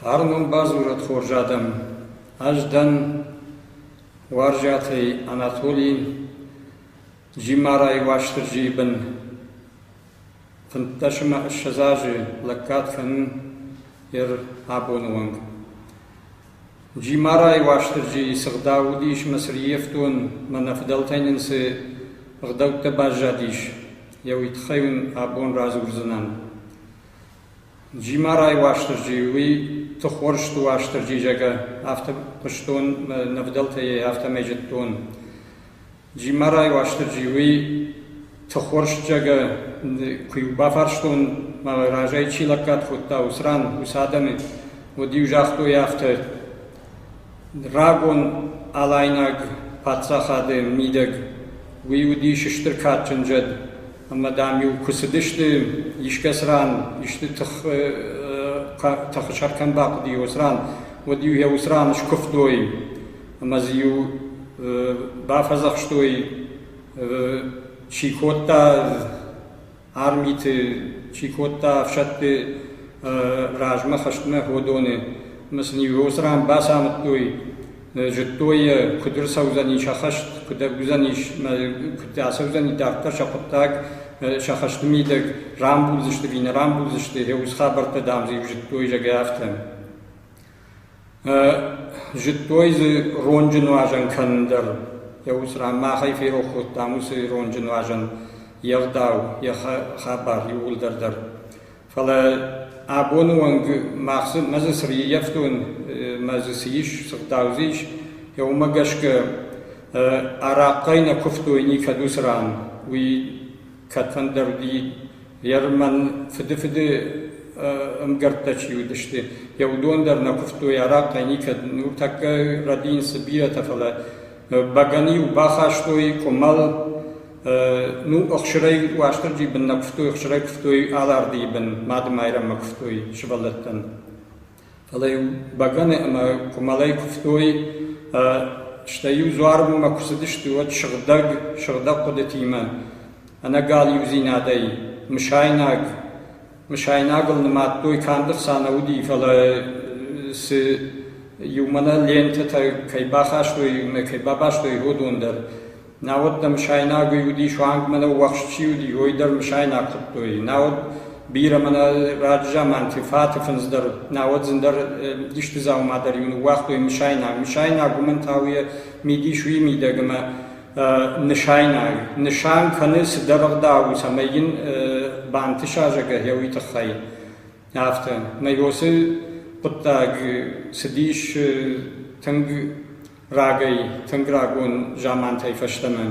Фарнон бадзурӕд хорз адӕм, ӕз дӕн Уарзиатӕй Анатоли, Джимарайы Уастырджийы бын. Фынддӕсӕмӕ ссӕдз азы лӕггад кӕнын ир абоны онг. Джимарайы Уастырджийы сыгъдау уыдис мӕ цы риевтон мӕ нӕ фыдӕлтӕй нын цы ӕгъдӕуттӕ баззадис, йӕ уый тыххӕй уын абон радзурдзынӕн. Джимарайы Уастырджи уый Тыхуырсты Уастырджи зӕгъы, афтӕ хъуыстон мӕ нӕ фыдӕлтӕй афтӕмӕй зыдтон. Джимарай Уастырджиуи тыхуырсджыгӕ куы-иу бафарстон, мӕ разӕй чи лӕггад кодта, уыцы ран, уыцы адӕмы, уӕд-иу загътой афтӕ: «Рагон алайнаг паддзахады мидӕг уый уыдис стыр кадджын зӕд, ӕмӕ, дам-иу куы цыдысты, искӕцы ран исты тыхы сӕр кӕм бахъуыди, уыцы ран, уӕд-иу йӕ уыцы ран скуывтой. ӕмӕ дзы-иу бафӕдзӕхстой, чи кодта армиты, чи кодта ӕфсӕдты размӕ хӕстмӕ уыдоны. Ӕмӕ сын иу ран бацамыдтой, зыдтой йӕ, куыд ӕрцӕудзӕни сӕ хӕст, куыд ӕрдуыдзӕнис, куыд ацӕудзӕни дарддӕр сӕ хъуыддаг, сӕ хӕсты мидӕг, рамбулдзысты ӕви нӕ рамбулдзысты, йӕ ус хабӕрттӕ, дам, дзы-иу зыдтой, зӕгъгӕ, афтӕ. Зыдтой дзы ронджы нуазӕн кӕнын дӕр. Йӕ уыцы ран мах ӕй ферох кодтам уыцы ронджы нуазӕн, йе гъдау, йӕ хабар иууылдӕр дӕр. Фӕлӕ абоны онг мах дзы мӕ дзы цы риййӕфтон, мӕ дзы цы ис, цы гъдау дзы ис, уымӕ гӕсгӕ арахъхъӕй нӕ куывтой никӕд уыцы ран. Уый кӕдфӕндӕр Ермӕн фыдыфыды ӕмгӕрттӕ чи уыдысты, йӕ уыдон дӕр нӕ куывтой арахъхъӕй никӕд. Нуртӕккӕ рӕд ин цы бирӕтӕ, фӕлӕ бӕгӕны-иу бахастой къуымӕл, ну, ӕхсырӕй, Уастырджи бын нӕ куывтой, ӕхсырӕй куывтой Алардыйы бын, Мады-Майрӕммӕ куывтой сывӕллӕттӕн. Фӕлӕ йын бӕгӕны ӕмӕ къуымӕлӕй куывтой, стӕй-иу дзуармӕ куы цыдысты, уӕд сыгъдӕг, сыгъдӕг хъуыдытимӕ, ӕнӕгал иудзинадӕй, мысайнаг. Мысайнагыл нымадтой, канд ӕрца нӕ уыди, фӕлӕ цы иумӕ нӕ лентӕтӕ кӕй бахастой, иумӕ кӕй бабастой, уыдон дӕр. Науӕд дӕ мысайнаг уыди суанг мӕнӕ уӕхск чи уыди, уый дӕр мысайнаг хуыдтой. Науӕд бирӕ мӕнӕ раджызаманты фаты фындз дӕр, науӕд зын дӕр исты дзаума дӕр иу ныууагътой мысайнаг. Мысайнаг уымӕн та у йӕ мидис уый мидӕг ӕмӕ нысайнаг. Нысан кӕны цыдӕр ӕгъдау, цӕмӕй йын бантыса, зӕгъгӕ, йӕ уый тыххӕй. Афтӕ. Мӕ уыцы хъуыддаг цыдис тынг Рагӕй, тынг рагон замантӕй фӕстӕмӕ,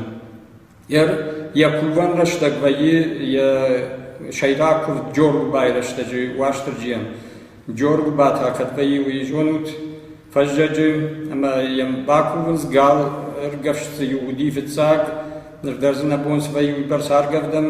йӕ кувӕн рӕстӕг вӕййы йӕ сӕйраг куывд Джоргуыбайы рӕстӕджы Уастырджийӕн. Джоргуыба та кӕд вӕййы, уый зонут? Фӕззӕджы, ӕмӕ йӕм бакувынц, гал ӕргӕвст дзы иу уыди фыццаг, ныр дӕр дзы нӕ бон свӕййы уыйбӕрц аргӕвдӕн,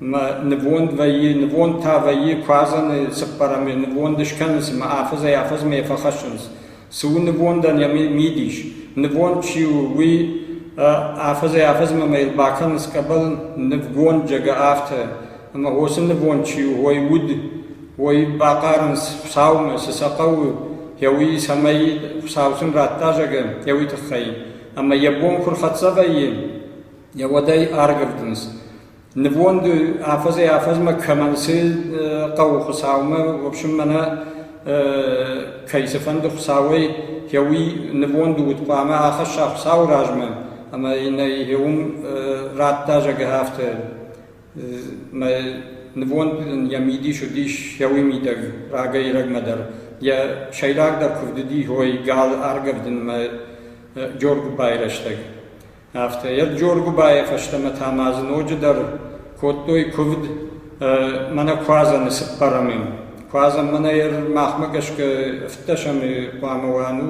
ӕмӕ нывонд вӕййы, нывонд та вӕййы, куадзӕны цыппӕрӕмы нывонд скӕны, цыма афӕдзӕй-афӕдзмӕ йӕ фӕхӕссынц. Цы у нывондӕн йӕ мидис? Нывонд чи у, уый афӕдзӕй-афӕдзмӕ мӕ йыл бакӕнынц къӕбӕл нывгонд Джагаъавтӕ, ӕмӕ уыцы нывонд чи у, уой уд, уой бахъарынц Хуыцаумӕ, цы сӕ хъӕуы, йӕ уый, цӕмӕй Хуыцау сын радта, зӕгъы, йӕ уый тыххӕй. Ӕмӕ йӕ бон куы рхӕццӕ вӕййы, йӕ уӕд ӕй аргӕвдынц. Нывонд афӕдзӕй-афӕдзмӕ кӕмӕн цы хъӕуы Хуыцаумӕ, в общем, мӕнӕ кӕй цыфӕнды Хуыцауӕй йӕ уый нывонд уыд, хъуамӕ ахӕсса Хуыцауы размӕ ӕмӕ йын ӕй йӕ уым радта, зӕгъы афтӕ. Мӕ нывонд ын йӕ мидис уыдис йӕ уый мидӕг, рагӕй-рӕгмӕ дӕр. Йӕ сӕйрагдӕр куывд уыди Ой, галы аргӕвдынмӕ Джоргуыбайы рӕстӕг. Афтӕ йӕ Джоргуыбайы фӕстӕмӕ та ма дзы ноджыдӕр кодтой куывд мӕнӕ Куадзӕны цыппӕрӕмы. Куадзӕн мӕнӕ махмӕ гӕсгӕ ӕвддӕсӕмы хъуамӕ уа, ну,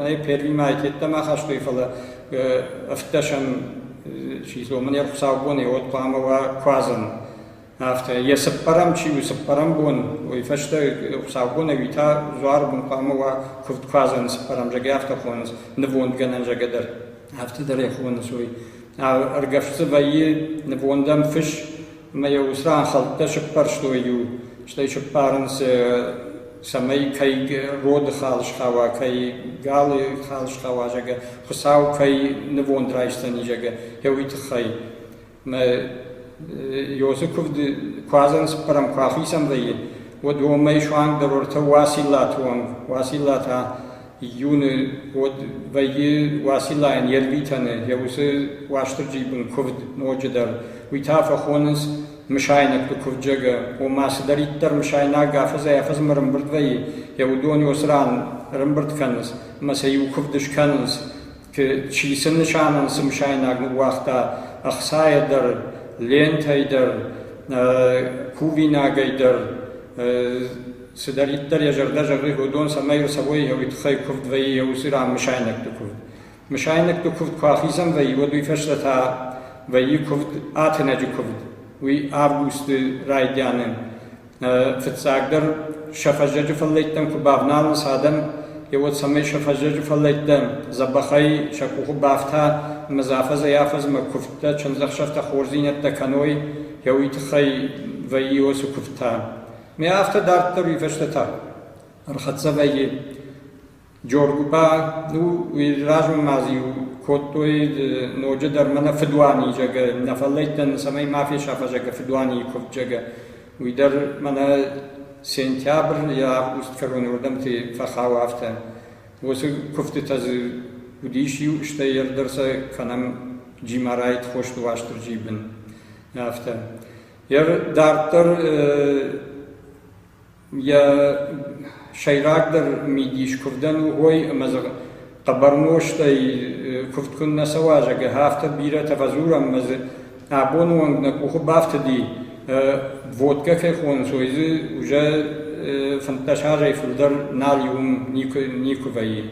ӕй первимӕ айкеттӕм ахастой, фӕлӕ ӕвддӕсӕм чи дзы уымӕн йӕ хуыцаубон и, уӕд хъуамӕ уа Куадзӕн. Афтӕ йӕ цыппӕрӕм чи у, цыппӕрӕм бон, уый фӕстӕ хуыцаубон ӕви та дзуарбон хъуамӕ уа куывдкуадзӕны цыппӕрӕм зӕгӕ афтӕ хонынц, нывондгӕнӕн зӕгӕ дӕр. Афтӕ дӕр йӕ хонынц уый. Ӕргӕвст дзы вӕййы нывондӕн фыс ӕмӕ йӕ уыцы ран хӕлттӕ сыппӕрстой иу, стӕй сыппарынц, цӕмӕй кӕй роды хал схауа, кӕй галы хал схауа, зӕгӕ, хуыцау кӕй нывонд райсдзӕни, зӕгӕ, йӕ уый тыххӕй. Мӕ йосы куывд куы адзӕнцппӕрӕм, куы ахицӕн вӕййы, уӕд уомӕй суанг дӕр уӕртӕ Уациллаты онг, Уацилла та июны уӕд вӕййы Уациллайӕн йе рвитӕны йӕ уыцы Уастырджийы бын куывд ноджыдӕр. Уый та фӕхонынц мысайнӕгты куывдджагӕ, ома цыдӕриддӕр мысайнаг афӕдзӕй-афӕдзмӕ ӕрӕмбырд вӕййы, йӕ уыдон йосы ран ӕрӕмбырд кӕнынц ӕмӕ сӕ иу куывд скӕнынц Чи сын нысанон сымсайнаг ныууагъта ӕхцайӕ дӕр, лентӕй дӕр, кувинагӕй дӕр. Цыдӕриддӕр йӕ зӕрдӕ зӕгъы, уыдон цӕмӕй ӕрцӕуой йӕ тыххӕй куывд вӕййы йӕ уыцы ран мысайнӕгты куывд. Мысайнӕгты куывд куы ахицӕн вӕййы, уӕд уый фӕстӕ та вӕййы куывд, атынӕджы куывд. Уый августы райдианы Фыццагдӕр сӕ фӕззӕджы фӕллӕйттӕн куы бавналынц адӕм, йӕ уӕд цӕмӕй сӕ фӕззӕджы фӕллӕйттӕ дзӕбӕхӕй сӕ къухы бафта ӕмӕ дзы афӕдзӕй-афӕдзмӕ куывдтӕ, чындзӕхсӕвтӕ, хорздзинӕдтӕ кӕной, йӕ уый тыххӕй вӕййы уыцы куывдтӕ. Ме афтӕ дарддӕр уый фӕстӕ та ӕрхӕццӕ вӕййы Джорджы ба размӕ ма иу кодтой ноджыдӕр мӕнӕ фыдуаний зӕгӕ, нӕ фӕллӕйттӕн цӕмӕй ма фесафа зӕгӕ фыдуанийы куывд зӕгӕ. Уый дӕр мӕнӕ сентябрь йӕ август кӕроны уырдӕмты фӕхауы афтӕ. Уыцы куывдтытӕ дзы уыдис иу, стӕй ӕрдӕр сӕ кӕнӕм Джимарайы Тхосты Уастырджийы бын. Афтӕ. Йӕ дарддӕр Йӕ сӕйрагдӕр мидис куывдӕн у уой, ӕмӕ дзы хъӕбӕр нозтӕй куывд куыннӕ цӕуа, зӕгъгӕ, афтӕ бирӕтӕ фӕдзурӕм ӕмӕ дзы абоны онг нӕ къухы бафтыди, водкӕ кӕй хонынцой, дзы уже фынддӕс азӕй фылдӕр нал и уым никуы вӕййы.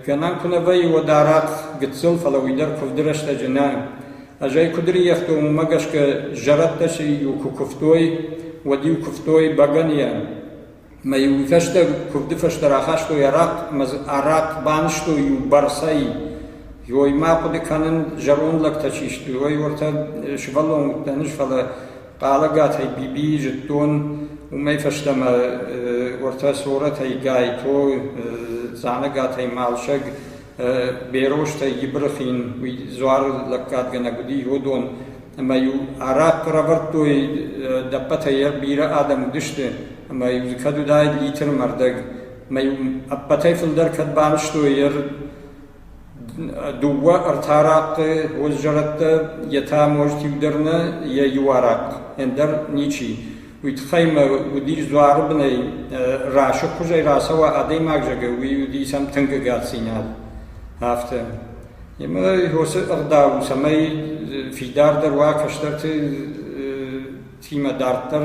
Гӕнӕн куы нӕ вӕййы уӕд арахъ, гыццыл, фӕлӕ уый дӕр куывды рӕстӕджы нӕ. Ӕз ӕй куыд рииӕгтон, уымӕ гӕсгӕ зӕрӕдтӕ сӕ-иу куы куывтой, уӕд-иу куывтой бӕгӕныйӕ. Мӕ-иу уый фӕстӕ куывды фӕстӕ рахастой арахъ ӕмӕ дзы арахъ банызтой-иу бӕрцӕй. Ой, ма хъуыды кӕнын, зӕронд лӕгтӕ чи сты, ой, уӕртӕ сывӕллон уыдтӕн ӕз, фӕлӕ Къалагатӕй Бибийи зудтон, уомӕй фӕстӕмӕ уотӕ сорӕтӕй Гайто, Дзанагатӕй Малсӕг, берозтӕй Ибрахин, уи дзуар лӕггадгӕнӕг уди иодон, ӕма-еу арахъ ӕрӕвардтой, ӕппӕтӕй берӕ адӕм уидисти, ӕма-еу дзы кӕд уидаид литр мӕрдӕг. Ӕма-еу ӕппӕтӕй фулдӕр кӕд банзтой, Дыууӕ ӕртӕ рӕтты уыд зӕрӕдтӕ, йе та можджытӕ дӕр нӕ йӕ иу арахъхъ, ӕндӕр ничи. Уый тыххӕй мӕ уыдис дзуары бынӕй рӕсугъдхуызӕй рацӕуа адӕймаг зӕгъы, уый уыдис ӕм тынг ӕгаддзинад. Афтӕ. Ӕмӕ уыцы ӕгъдау, цӕмӕй фидардӕр уа кӕстӕрты тимӕ дарддӕр,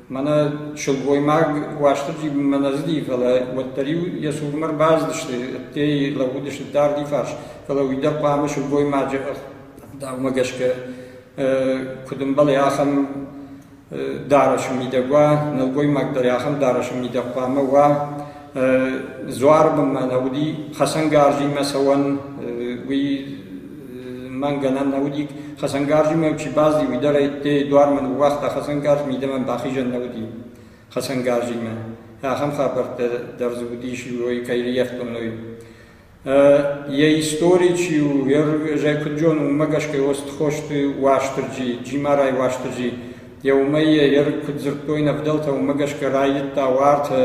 Мӕнӕ сылгоймаг Уастырджи-мӕ нӕ зыди, фӕлӕ уӕддӕр-иу йӕ цурмӕ ӕрбацыдысты, ӕддейы лӕууыдысты дарди фарс, фӕлӕ уый дӕр хъуамӕ сылгоймаджы ӕгъдаумӕ гӕсгӕ куыд ӕмбӕлы, ахӕм дарӕсы мидӕг уа, нӕлгоймаг дӕр ахӕм дарӕсы мидӕг хъуамӕ уа. Дзуары бынмӕ нӕ уыди, хӕцӕнгарзимӕ цӕуӕн уый мӕн гӕнӕн нӕ уыди. Хӕцӕнгарзимӕ чи бӕззи, уый дӕр ӕйттӕй дуармӕ ныууагъта, хӕцӕнгарз мидӕмӕ бахизӕн нӕ уыди хӕцӕнгарзимӕ. Ахӕм хабӕрттӕ дӕр дзы уыдис, уой кӕй риӕхтоной. Йӕ истори чи у, зӕйкуыдджон уымӕ гӕсгӕ уыд Тхосты Уастырджи, Джимарайы Уастырджи. Йӕ уымӕй йӕ куыд дзырдтой нӕ фыдӕлтӕ, уымӕ гӕсгӕ райдыдта уартӕ,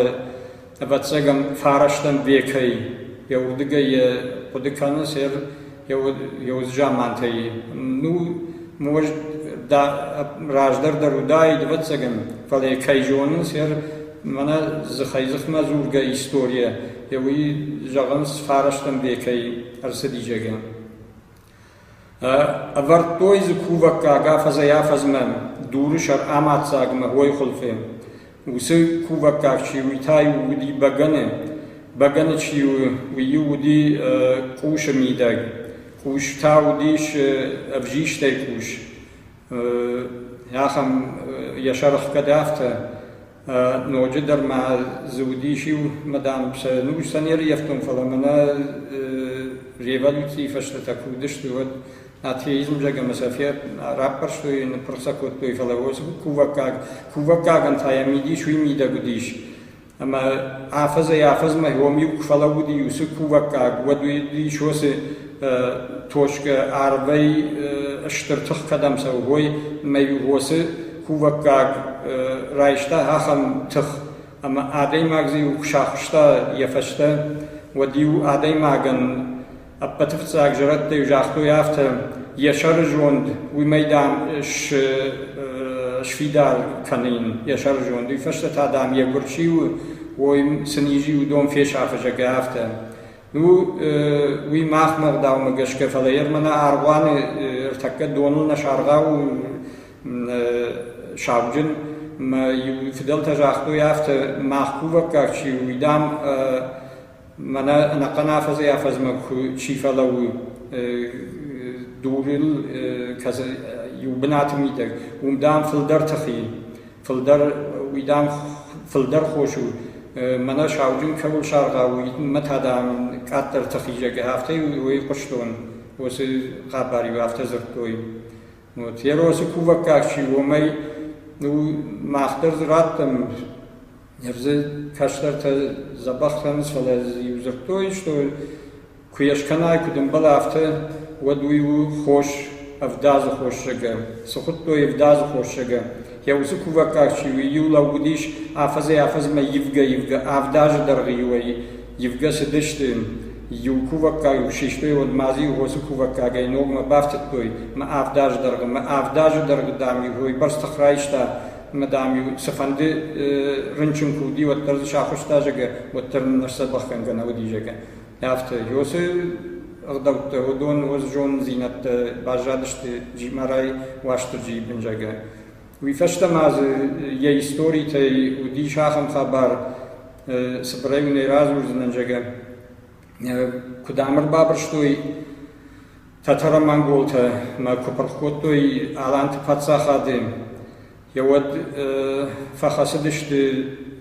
ӕвӕццӕгӕн, фарӕстӕм векӕй. Йӕ уырдыгӕй йӕ хъуыды кӕны сэр йӕ замантӕй. Ну, муӕз раздӕр дӕр уыдаид, ӕвӕццӕгӕн, фӕлӕ, кӕй зонын, сэр, мӕнӕ дзыхӕй-дзыхмӕ дзургӕ историйӕ уый зӕгъынц, фарастӕн векӕй ӕрцыди зӕгӕ. Ӕвӕрдтой дзы кувӕггаг афӕдзӕй-афӕдзмӕ дуры сӕр амаддзагмӕ уой хуылфы. Уыцы кувӕггаг чи уый та уыди бӕгӕны, бӕгӕны чи у, уый уыди къусы мидӕг, къус та уыдис ӕвзистӕй къус. Ахӕм йӕ сӕргъ кӕд афтӕ, Ноджыдӕр ма дзы уыдис иу мадам, сӕ ныфс сӕ не рыййӕфтон, фӕлӕ мӕнӕ революцийы фӕстӕ куы уыдысты, уӕд атеизм зӕгъ ӕмӕ сӕ раппӕрстой, ныппырх сӕ кодтой, фӕлӕ кувӕггаг, кувӕггагӕн та йӕ мидис уый мидӕг уыдис. Ӕмӕ афӕдзӕй-афӕдзмӕ уым-иу куы фӕлӕууыди уыцы кувӕггаг, уӕд уыдис уыцы точкӕ арвӕй стыр тых кӕдӕм цӕуы, уой, ӕмӕ-иу уыцы кувӕггаг райста ахӕм тых, ӕмӕ адӕймаг дзы иу куы сахуыста йӕ фӕстӕ, уӕд-иу адӕймагӕн ӕппӕты фыццаг зӕрӕдтӕ загътой афтӕ, йӕ сӕрызонд уымӕй, дам, сфидар кӕнын йӕ сӕрызонд. Уый фӕстӕ та, дам, йӕ гуыр чи у, ой сын изы уыдон фесафы, зӕгъгӕ, афтӕ. Ну, уый махмӕ ӕгъдаумӕ гӕсгӕ, фӕлӕ йе рмӕ нӕ аргъуаны ӕртӕккӕ доныл нӕ саргъау сауджын мӕ иу фыдӕлтӕ загътой афтӕ, мах кувӕггаг чи у, уый, дам, мӕнӕ ӕнӕхъӕн афӕдзӕй афӕдзмӕ чи фӕлӕууы, дурыл иу бынаты мидӕг, уым, дам, фылдӕр тых и. Фылдӕр хос у, мӕнӕ сауджын кӕуыл саргъау, мӕ та, дам, къаддӕрты хизӕг, афтӕ уый хъуыстон, уыцы хъӕбӕр-иу афтӕ дзырдтой. Еросы кувӕггаг чи у, уымӕй мах дӕр дзы радтам, ӕрдзы кӕстӕртӕ дзӕбӕх кӕнынц, фӕлӕ дзы-иу дзырдтой, что Куы йӕ скӕнай, куыд ӕмбӕлы афтӕ, уӕд уый у хос ӕвдадзы хосзагӕ. Цы хуыдтой ӕвдадзы хосзагӕ? Йӕ уыцы кувӕггаг чи у, иу лӕууыдис афӕдзӕй-афӕдзмӕ ивгӕ-ивгӕ, авдазы дӕргъы иуӕй ивгӕ цыдысты. Иу кувӕггаг куы систой, уӕд ма дзы иу хосы кувӕггагӕй ногмӕ бафтыдтой мӕ авдазы дӕргъы. Мӕ авдазы дӕргъы, дам-иу уойбӕрц тых райста, ӕмӕ, дам-иу цыфӕнды рынчын куы уыди, уӕддӕр дзы сахуыста, зӕгъгӕ, уӕддӕр ныр сдзӕбӕхгӕнгӕ нӕ уыди, зӕгъгӕ. Афтӕ Йосы ӕгъдӕуттӕ уыдон уыд зонддзинӕдтӕ баззадысты Джимарай Уастырджийы бынзагӕ. Уый фӕстӕ ма дзы йӕ историтӕй уыдис ахӕм хабар, цыбырӕй уын ӕй радзурдзынӕн, зӕгъгӕ, куыд ам ӕрбабырстой татаро-монголтӕ мӕ куы пырх кодтой Аланты паддзахады Уӕд фӕхӕцыдысты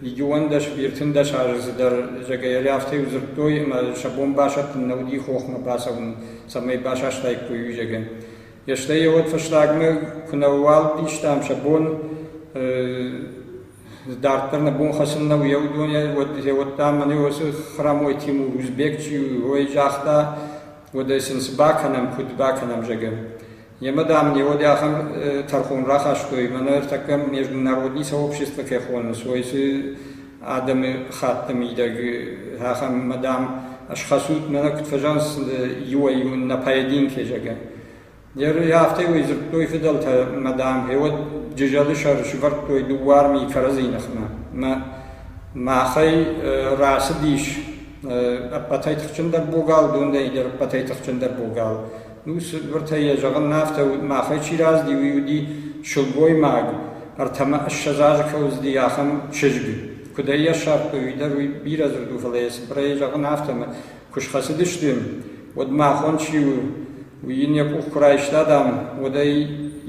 иджыуӕндӕс, ӕртындӕс азы цыдӕр зӕгӕйӕ, афтӕ-иу дзырдтой, ӕмӕ сӕ бон басӕттын нӕ уыди хохмӕ бацӕуын, цӕмӕй басастаиккой уизӕгӕн. Стӕй йӕ фӕстагмӕ куы нӕ уӕлхъистӕм сӕ бон дарддӕр нӕ бон хӕцын нӕ уыйӕ уыдонӕй, уӕд та мӕнӕ уыцы Хърамой Тимур Узбек чи у, уый загъта, уӕдӕ сын цы бакӕнӕм, куыд бакӕнӕм, зӕгӕ. Йемӕ, дам, ын йӕ уӕд ахӕм тӕрхон рахастой, мӕнӕ ӕртӕккӕ международный сообщество кӕй хонынц, уой цы адӕмы хатты мидӕг ахӕм, мӕ, дам, ӕсхӕссут, мӕнӕ куыд фӕзӕнц иуӕй-иу нӕ поединки, зӕгъгӕ. Йӕ афтӕ уый дзырдтой фыдӕлтӕ, мӕ, дам, гъеуӕд джызӕлы сӕр сывӕрдтой дыууӕ армийы кӕрӕдзийы ныхмӕ. Мӕ, махӕй рацыдис ӕппӕтӕй тыхджындӕр богал, дондӕй дӕр ӕппӕтӕй тыхджындӕр богал. Ус уыртӕ йӕ зӕгъын афтӕ уыд, махӕй чи раздиу, уый уыди сылгоймаг, ӕртӕмӕ ӕссӕдз азы кӕй уыдзыди, ахӕм чызг. Куыд ӕй йӕссагътой, уый дӕр уый бирӕ дзырд у, фӕлӕ йӕ цыбырӕй зӕгъын афтӕ, куы схӕцыдысты, уӕд махон чи у, уый йын йӕ къух куы райста, дам, уӕд ӕй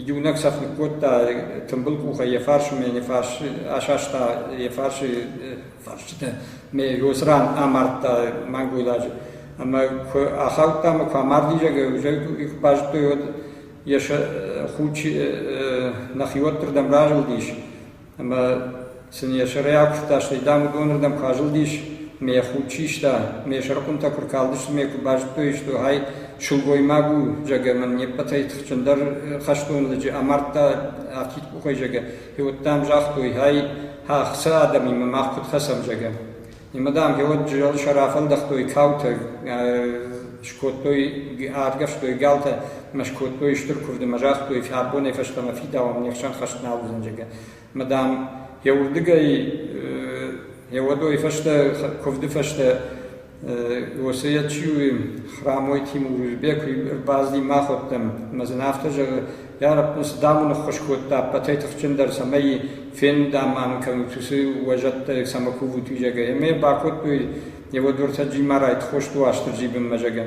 иунӕг цӕф ныккодта, тымбыл къухӕй йӕ фарсмӕ йын йӕ фарс асаста, йӕ фарсы фарстытӕ ме уыцы ран амардта мӕнгуылӕджы ӕмӕ куы ахаудта ӕмӕ куы амардизӕг их базыдтой уӕд йӕ сӕ худ нӕхиуӕттырдӕм разылдис ӕмӕ сын йӕ сӕрӕй акуывта стӕй дам уыдонырдӕм куы азылдис ме йӕ худ систа ме сӕрхъуынтӕ куы ркалдысты ме куы базыдтой истой ай сылгоймаг у зӕгӕ мӕн не ппӕтӕй тыхджындӕр хӕстон лӕджы амардта афтид къухӕй зӕгӕ Феуд, дам, загътой ӕй, ӕхца адӕмимӕ мах куыд хӕцӕм, зӕгъгӕ. Нимӕ, дам, феуд джызӕлсӕ рафӕлдӕхтой каутӕ, скодтой, аргӕвстой галтӕ ӕмӕ скодтой стыр куывд ӕмӕ загътой, абонӕй фӕстӕмӕ фидауӕм, не хсӕн хӕст нал уыдзӕн, зӕгъгӕ. Ӕмӕ, дам, йӕ уырдыгӕй, йӕ уӕдойы фӕстӕ, куывды фӕстӕ Уосӕ чи у, Храмойти Мурузбег куы ӕрбацыди, мах уӕддӕр, ӕмӕ дзы афтӕ зӕгъы: «Йа рӕппун, цы давун ӕххуыс кодта ӕппӕтӕй тыхджындӕр, цӕмӕй фендам ма нын кӕнут уыцы уӕзӕттӕ, цӕмӕ кувут, уый, зӕгъгӕ». Ӕмӕ йӕ бакодтой, йӕ уодвӕрсӕ Джимарайты Хосту Астырджи бынмӕ, зӕгъгӕ.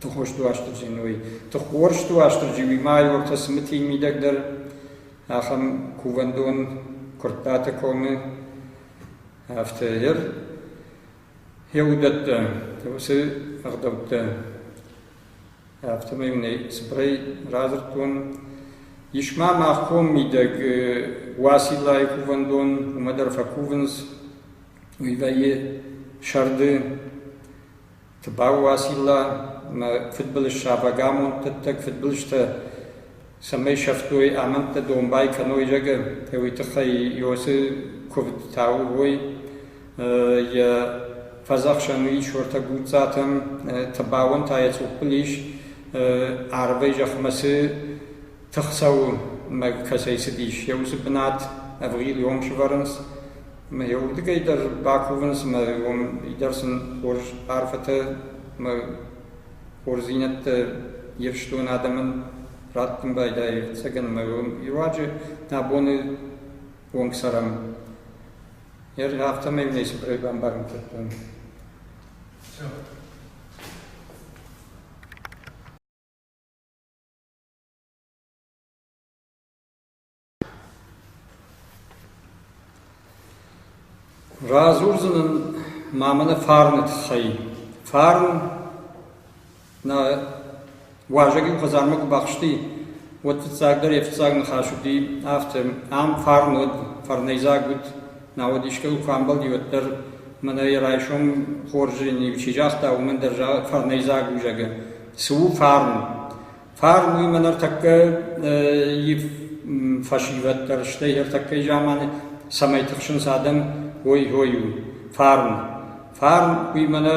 Тыхосты Уастырджи ной. Тыхкъорсты Уастырджи уый майортӕ цымытийы мидӕг дӕр ахӕм кувӕндон Куырттаты комы ФТР йӕ уыдӕттӕ, уыцы ӕгъдӕуттӕ. Афтӕмӕй мын ӕй цыбырӕй радзырдтон. Ис ма мах ком мидӕг Уациллайы кувӕндон, уымӕ дӕр фӕкувынц. Уый вӕййы сӕрды Тыбау Уацилла ӕмӕ фыдбылыз сабагамонд тыттӕг фыдбылызтӕ цӕмӕй сӕфтой амӕндтӕ домбай кӕной, зӕгъы, уый тыххӕй Иосы куывдтӕ уой. Йӕ фӕдзӕхсӕн у Исортӕ Гуццатӕм, Тыбауӕн та йӕ цъуппыл ис арвӕй зӕхмӕ цы тых цӕуы ӕмӕ кӕцӕй цыдис, йӕ уыцы бынат ӕвгъил-йонг сӕвӕрынц. Ӕмӕ йӕ уырдыгӕй дӕр бакувынц ӕмӕ уым дӕр сын хорз арфӕтӕ ӕмӕ хорздзинӕдтӕ ифстон адӕмӕн раттын байдайы ӕвӕццӕгӕн ӕмӕ руаджы нӕ боны онг цӕрӕм. Афтӕмӕй нӕ цыбырӕй бамбарын кодтам. Радзурдзӕн ын ма мӕнӕ фарны тыххӕй. Фарн нӕ уазӕгӕн хӕдзармӕ куы бахсти, уӕд фыццагдӕр йӕ фыццаг ныхас уыди афтӕ: «Ам фарн уӕд, фарнӕйдзаг уыд, науӕд искӕй куы амбӕлди, уӕддӕр мӕнӕ йӕ райсом хорзӕн чи загъта, уымӕн дӕр фарнӕйдзаг у», зӕгъгӕ. Цы у фарн? Фарн уимӕ ныртӕккӕ фӕсивӕд дӕр, стӕй ӕртӕккӕйы заманы цӕмӕй тыхсынц адӕм, ой-ой у фарн. Фарн уимӕ нӕ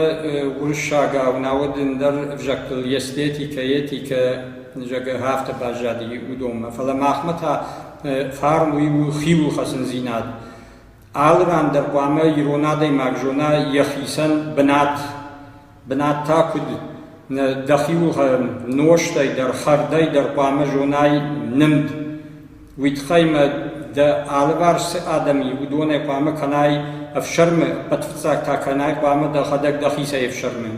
уырыссагау, науӕд ӕндӕр ӕвзӕгтыл эстетикӕ, этикӕ зӕгъгӕ афтӕ баззади уыдонмӕ. Фӕлӕ махмӕ та фарн уый у хиуылхӕцындзинад. Алы ран дӕр хъуамӕ ирон адӕймаг зона йӕхицӕн бынат Бынат та куыд? Дӕхиуыл нозтӕй дӕр, хӕрдӕй дӕр хъуамӕ зонай нымд. Уый тыххӕй мӕ дӕ алыварс цы адӕм и, уыдонӕй хъуамӕ кӕнай ӕфсӕрмы, пӕтыфыццаг та кӕнай хъуамӕ дӕхӕдӕг дӕхицӕй ӕфсӕрмы.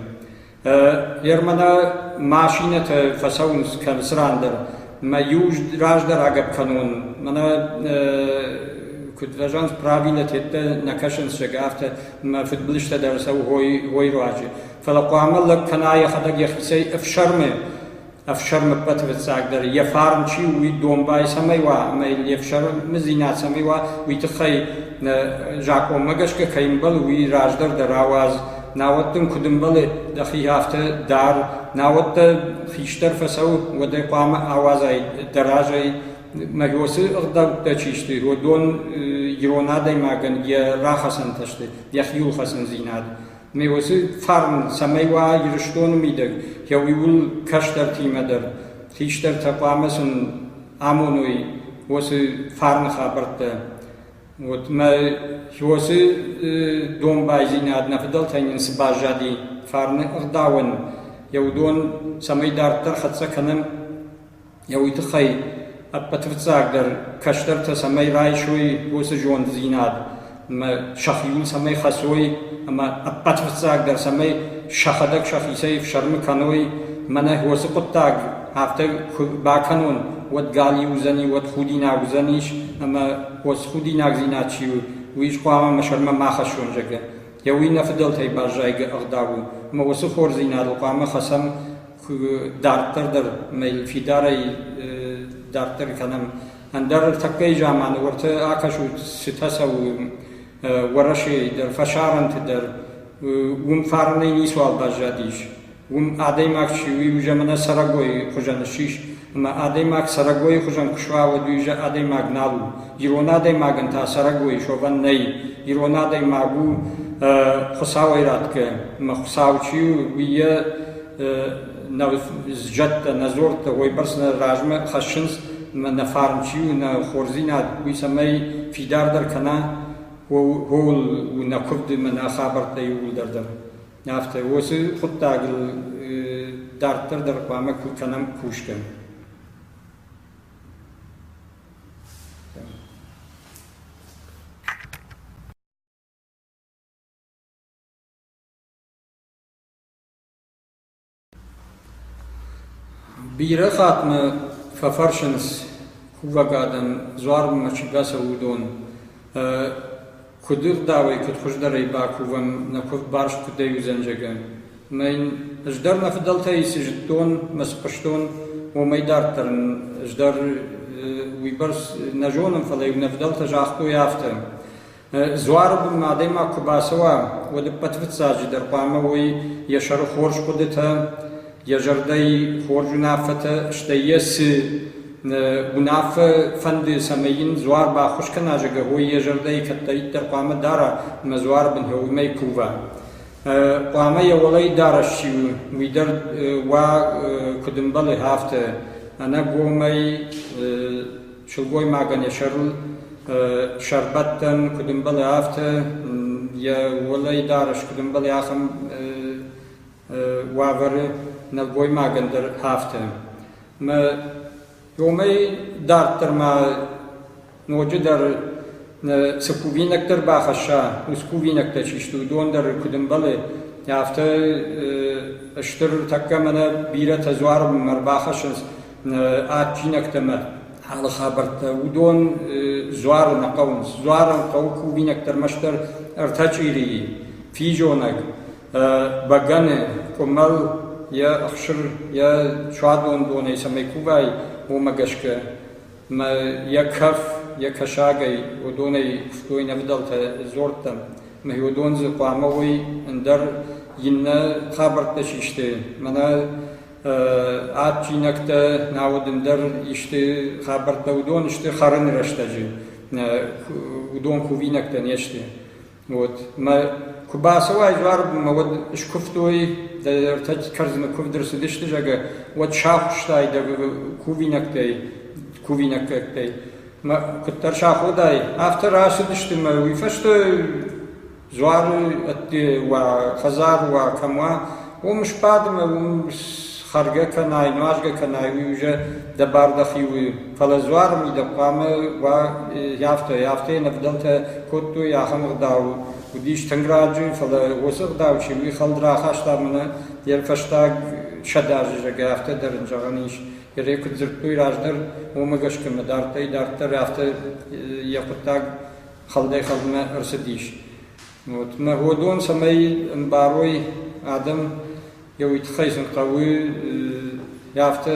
Гермӕнӕ машинӕтӕ фӕцӕуынц кӕнцы ран дӕр. Мӕ иу раздӕр агӕпп кӕнон, мӕнӕ куыд фӕзӕгъынц, правилӕ тедтӕ нӕ кӕсынц, зӕгӕ, афтӕ мӕ фыдбылызтӕ дӕр цӕуы уой руаджы. Фӕлӕ хъуамӕ лӕг кӕна йӕхӕдӕг йӕхицӕй ӕфсӕрмы, ӕфсӕрмы ппӕты фыццагдӕр, йӕ фарн чи у, уый домбай цӕмӕй уа ӕмӕ йыл йе фсӕрмдзинад цӕмӕй уа, уый тыххӕй закъонмӕ гӕсгӕ кӕй ӕмбӕлы, уый раздӕр дӕр ауадз. Науӕд дын куыд ӕмбӕлы дӕхи афтӕ дар, науӕд дӕ хистӕр фӕцӕуы, уӕд ӕй хъуамӕ ауадзай дӕ разӕй Магиосы ӕгъдӕуттӕ чи сты, уыдон ирон адӕймагӕн йӕ рахӕцӕнтӕ сты, йӕ хиуылхӕцындзинад. Магиосы фарн цӕмӕй уа Ирыстоны мидӕг, гъӕуиуыл кӕстӕртимӕ дӕр хистӕртӕ хъуамӕ сын амоной уыцы фарны хабӕрттӕ. Вот мӕ Хиосы домбайдзинад нӕ фыдӕлтӕй нын цы баззади, фарны ӕгъдауӕн, йӕ уыдон цӕмӕй дарддӕр хӕццӕ кӕнӕм, Йӕ уый тыххӕй ӕппӕтвыццагдӕр кӕстӕртӕ цӕмӕй райсой уыцы зонддзинад ӕмӕ сӕхиуыл цӕмӕй хӕцой ӕмӕ ӕппӕтвыццагдӕр цӕмӕй сӕхӕдӕг сӕхицӕй ӕфсӕрмы кӕной ӕмӕ нӕ уыцы хъуыддаг афтӕ куы бакӕнон, уӕд галиу уыдзӕни, уӕд худинаг уыдзӕнис ӕмӕ уыцы худинагдзинад чи у, уый хъуамӕ мӕ сӕрмӕ ма хӕссон, зӕгъгӕ. Йӕ уый нӕ фыдӕлтӕй баззайгӕ ӕгъдау у, ӕмӕ уыцы хорздзинадыл хъуамӕ хӕцӕм дарддӕр дӕр мыл фидарӕй дарддӕр кӕнӕм. Ӕндӕр тӕккӕ заманы уӕртӕ акӕсут цытӕ цӕуы Уӕрӕсейы дӕр, фӕсарӕнты дӕр. Уым фарнӕй ницуал баззадис. Уым адӕймаг чи у, иу замана цӕрӕгойы хуызӕн ссис Ӕмӕ адӕймаг цӕрӕгойы хуызӕн куы суа, уӕд уый зӕ адӕймаг нал у. Ирон адӕймагӕн та цӕрӕгойы шовӕн нӕй. Ирон адӕймаг у Хуыцауӕй радгӕ, ӕмӕ Хуыцау чи у, уый йӕ нӕ зӕдтӕ, нӕ дзорттӕ уойбӕрц нӕ размӕ хӕссынц, ӕмӕ нӕ фарн чи у, нӕ хорздзинад, уый цӕмӕй фидардӕр кӕна, ууыл у нӕ куывд ӕмӕ нӕ хабӕрттӕ иууылдӕр дӕр. Афтӕ уыцы хъуыддагыл дарддӕр дӕр хъуамӕ кӕнӕм кусгӕ. Бирӕ хаттмӕ фӕфӕрсынц, кувӕг адӕм дзуармӕ чи бацӕуы, уыдон. Куыды рдауӕй, куыд хуыздӕрӕй бакувӕм, нӕ куывд барст куыдӕй уыдзӕн, зӕгъгӕ. Ӕмӕ йын ӕз дӕр мӕ фыдӕлтӕй цы зыдтон, мӕ цы хъуыстон, уымӕй дарддӕр ын ӕз дӕр уыйбӕрц нӕ зонын, фӕлӕ-иу нӕ фыдӕлтӕ загътой афтӕ. Дзуары бынмӕ адӕймаг куы бацӕуа, уӕд ӕппӕт фыццаджыдӕр хъуамӕ уой йӕ сӕры хорз хъуыдытӕ, йӕ зӕрдӕйы хорз уынаффӕтӕ, стӕй йӕ цы уынаффӕ фӕнды, цӕмӕй йын дзуар баххуыс кӕна, зӕгъгӕ, уой йӕ зӕрдӕйы кӕддӕриддӕр хъуамӕ дара ӕмӕ дзуары бын уымӕй кува. Хъуамӕ йӕ уӕлӕ дарӕс чи у, уый дӕр уа, куыд ӕмбӕлы, афтӕ. Ӕнӕгомӕй сылгоймагӕн йӕ сӕрыл сӕрбӕттӕн, куыд ӕмбӕлы, афтӕ йӕ уӕлӕй дарӕс, куыд ӕмбӕлы, ахӕм уавӕры нӕлгоймагӕн дӕр афтӕ. Ӕмӕ уымӕй дарддӕр ма ноджыдӕр цы кувинӕгтӕ ӕрбахӕсса, уыцы кувинӕгтӕ чи сты, уыдон дӕр куыд ӕмбӕлы, афтӕ стыр тӕккӕ мӕнӕ бирӕтӕ дзуармӕ ӕрбахӕссынц адджинӕгтӕ ӕмӕ алы хабӕрттӕ, уыдон дзуары нӕ хъӕуынц. Дзуарыл хъӕуы кувинӕгтӕ ӕрмӕстдӕр ӕртӕ чъирийы, физонӕг, бӕгӕны, къуымӕл, йӕ ӕхсыр, йӕ суадон донӕй цӕмӕй кувай, уымӕ гӕсгӕ. Ӕмӕ йӕ кӕф, йӕ кӕсагӕй уыдонӕй куыстой нӕ фыдӕлтӕ дзордтӕм. Ӕмӕ уыдон дзы хъуамӕ уой ӕндӕр иннӕ хабӕрттӕ систой. Мӕнӕ адджинӕгтӕ науӕд ӕндӕр исты хабӕрттӕ уыдон сты хӕрыны рӕстӕджы уыдон кувинӕгтӕ не сты вот мӕ куы бацӕуай дзуармӕ уӕд скуывтой дӕ ӕртӕ кӕрдзыны куывд ӕрцыдысты зӕгӕ уӕд сахуыстай дӕ кувинӕгтӕй кувинӕггӕгтӕй мӕ куыддӕр саходай афтӕ рацыдысты мӕ уый фӕстӕ Дзуарой ӕдде уа, хӕдзар уа кӕм уа, уым сбад ӕмӕ уым хӕргӕ кӕнай, нуазгӕ кӕнай, уый уже дӕ бар дӕхи у. Фӕлӕ дзуары ми дӕ хъуамӕ уа афтӕ, афтӕ йын ӕвдӕлтӕ кодтой, ахӕм ӕгъдау уыдис тынг раджы, фӕлӕ уыцы ӕгъдау чи уый хӕлд рахаста мӕнӕ йе фӕстаг сӕдӕ азы, зӕгъгӕ, афтӕ дӕр ын зӕгъӕн ис. Йӕ куыд дзырдтой раздӕр, уымӕ гӕсгӕ мӕ дарддӕй-дарддӕр афтӕ йӕ хъуыддаг хӕгъдӕй-хӕгъдмӕ ӕрцыдис. Вот народон, цӕмӕй ӕмбарой адӕм, йӕ уый тыххӕй сын хъӕуы афтӕ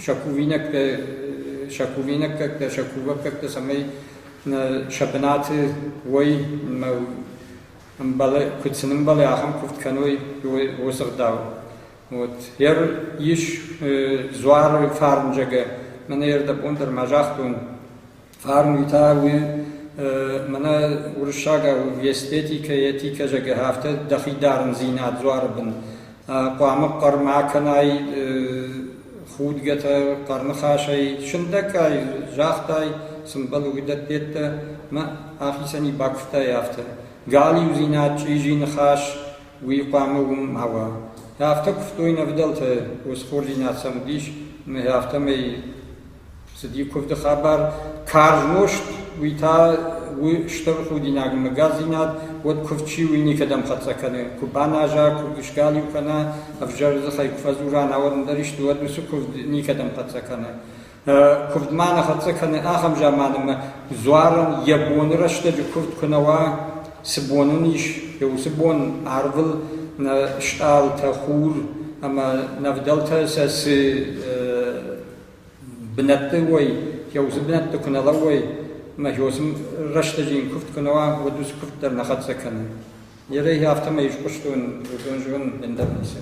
шаковинӕгтӕ, шаковинӕггӕгтӕ, шаковӕггӕгтӕ, цӕмӕй сӕ бынаты уой ӕмбӕлы, куыд сын ӕмбӕлы, ахӕм куывд кӕной уыцы гъдау. Вот ер ис дзуары фарнджӕгӕ. Мӕнӕ ердӕбон дӕр ма загътон, Фарнуйтӕ уи мӕнӕ уруссаг естетикӕ, этикӕ, зӕгӕ, афтӕ дӕхи дарындзинад дзуары бын. Хъуамӕ хъӕр ма кӕнай худгӕтӕ, хъӕрныхасӕй, сындӕггай загътай, цы мбӕлы, уыдӕттӕ, мӕ ахицӕни бакуывтай афтӕ. Галиудзинад, чъизи ныхас, уый хъуамӕ уым ма уа. Афтӕ куывтой нӕ ӕвдӕлтӕ, усхординад сӕм уыдис, мӕ афтӕмӕй Цыди куывды хабар карз нозт, уый та у стыр худинаг. Мыггагдзинад уӕд куывд чи у, уый никӕдӕм хӕццӕ кӕны. Куы баназа, куы сгалиу кӕна, ӕвзӕр дзыхӕй куы фӕдзура, науӕд ӕндӕр исты, уӕд уыцы куывд никӕдӕм хӕццӕ кӕны. Куывдмӕ нӕ хӕццӕ кӕны ахӕм заман, ӕмӕ дзуарӕн йӕ боны рӕстӕджы куывд куы нӕ уа, цы бон ын ис, йӕ уыцы бон арвыл нӕ стъалытӕ, хур ӕмӕ нӕ вдӕлтӕ сӕ цы бынӕтты уой, кӕузи бунӕтти ку нӕ лӕууой, ӕма кӕузи рӕстӕги ин кувд ку нӕ уа, уӕд уци кувд дӕр нӕ хӕццӕ кӕнун. Ерӕй афтӕмӕй искъустун, уыдон зонун ӕндӕр нисӕ.